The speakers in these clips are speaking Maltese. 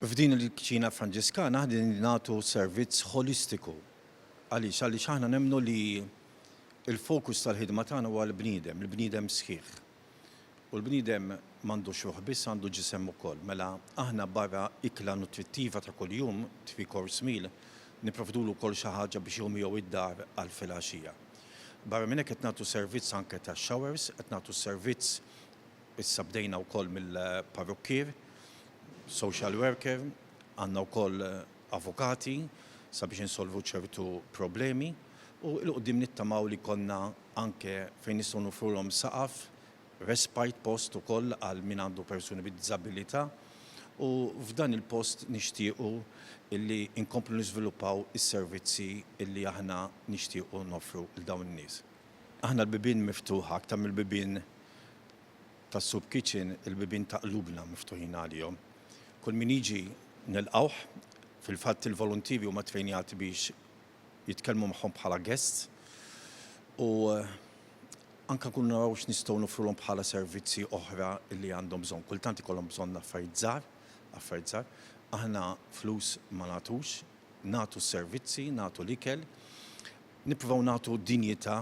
F'din il-kċina Franġiskana aħna nagħtu servizz holistiku. Għaliex? Għaliex aħna nemmnu li il-fokus tal-ħidma tagħna huwa l-bniedem, il-bniedem sħiħ. U l-bniedem m'għandux ruħ biss għandu ġisem ukoll. Mela aħna barra ikla nutrittiva ta' kuljum, three course meal, nipprovdulu wkoll xi ħaġa biex jieħu miegħu d-dar għal filgħaxija. Barra minn hekk qed nagħtu servizz anke ta' showers, qed nagħtu servizz issa bdejna wkoll mill-parrukkier, social worker, għandna wkoll avukati sabiex insolvu ċertu problemi u l-qudiem nittamaw li konna anke fejn nistgħu nofrulhom saqaf Respite post ukoll għal min għandu persuni bid-diżabilità u f'dan il-post nixtiequ li nkomplu niżviluppaw is-servizzi li aħna nixtiequ noffru 'l dawn in-nies. Aħna l-bibien miftuħa, aktar mill-bibien tas-soup kitchen, il-bibien ta' qlubna miftuħin għalihom. Kull min jiġi nilqgħuh, fil-fatt il-voluntieri huma ttrejnjati biex jitkellmu magħhom bħala guests u anke nkunu naraw x'nistgħu nofrulhom bħala servizzi oħra li għandhom bżonn. Kultant ikollhom bżonn affarijiet żgħar, affarijiet żgħar. Aħna flus ma nagħtux, nagħtu s-servizzi, nagħtu l-ikel, nippruvaw nagħtu dinjità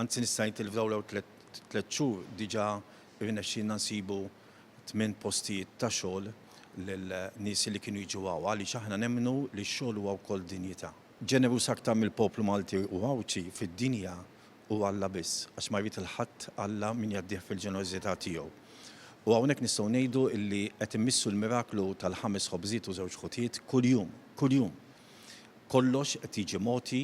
Anzi nista' ngħid li f'dawn l-ewwel tliet xhur diġà irnexxielna nsibu tmien postijiet ta' xogħol lil nies li kienu jiġu hawn għaliex aħna nemmnu li x-xogħol huwa wkoll dinjità. Ġeneruż aktar mill-poplu Malti u Għawdxi fid-dinja hu Alla biss, għax ma jrid 'il ħadd Alla min jgħaddih fil-ġenerożità tiegħu. U hawnhekk nistgħu ngħidu li qed immissu l-miraklu tal-ħames ħobżiet u żewġ ħutiet kuljum, kuljum! Kollox qed jiġi mogħti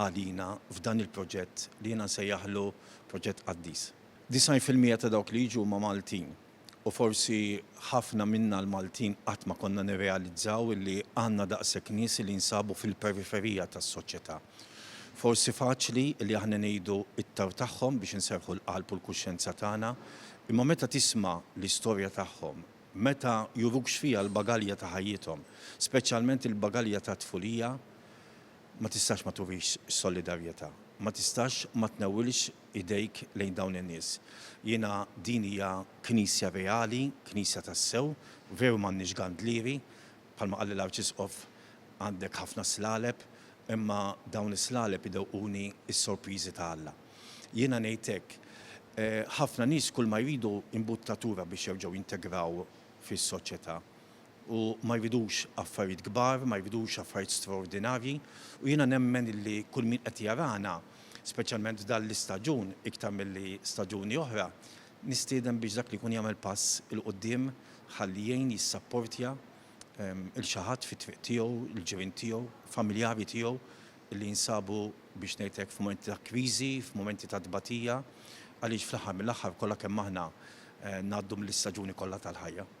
għalina f'dan il-proġett li jiena nsejjaħlu proġett qaddis. Disgħin fil-mija ta' dawk li jiġu huma Maltin u forsi ħafna minna l-Maltin qatt ma konna nirrealizzaw illi għandna daqshekk nies li jinsabu fil-periferija tas-soċjetà. Forsi faċli li aħna ngħidu it-tarw tagħhom biex inserrħu l-qalb u l-kuxjenza tagħna, imma meta tisma' l-istorja tagħhom, meta juruk x'fiha l-bagalja ta' ħajjithom, speċjalment il-bagalja tat-tfulija, Ma tistax ma turix solidarjetà. Ma tistax ma tnewwilx idejk lejn dawn in-nies. Jiena din hija Knisja reali, Knisja tassew. Veru m'għandniex gandlieri, bħalma qalli l-Arċisqof għandek ħafna slaleb, imma dawn is-slaleb idewquni s-sorpriżi ta' Alla. Jiena ngħid hekk, ħafna nies kulma jridu imbuttatura biex jerġgħu jintegraw fis-soċjetà. u ma jridux affarijiet kbar, ma jridux affarijiet straordinarji u jiena nemmen illi kull min qed jarana, speċjalment f'dan l-istaġun iktar milli staġuni oħra, nistieden biex dak li jkun jagħmel pass 'il quddiem ħalli jgħin jissapportja 'l xi ħadd fit-triq tiegħu, il-ġirien tiegħu, familjari tiegħu illi jinsabu biex ngħid hekk f'mumenti ta' kriżi, f'mumenti ta' tbatija għaliex fl-aħħar mill-aħħar kollha kemm aħna ngħaddu mill-istaġuni kollha tal-ħajja.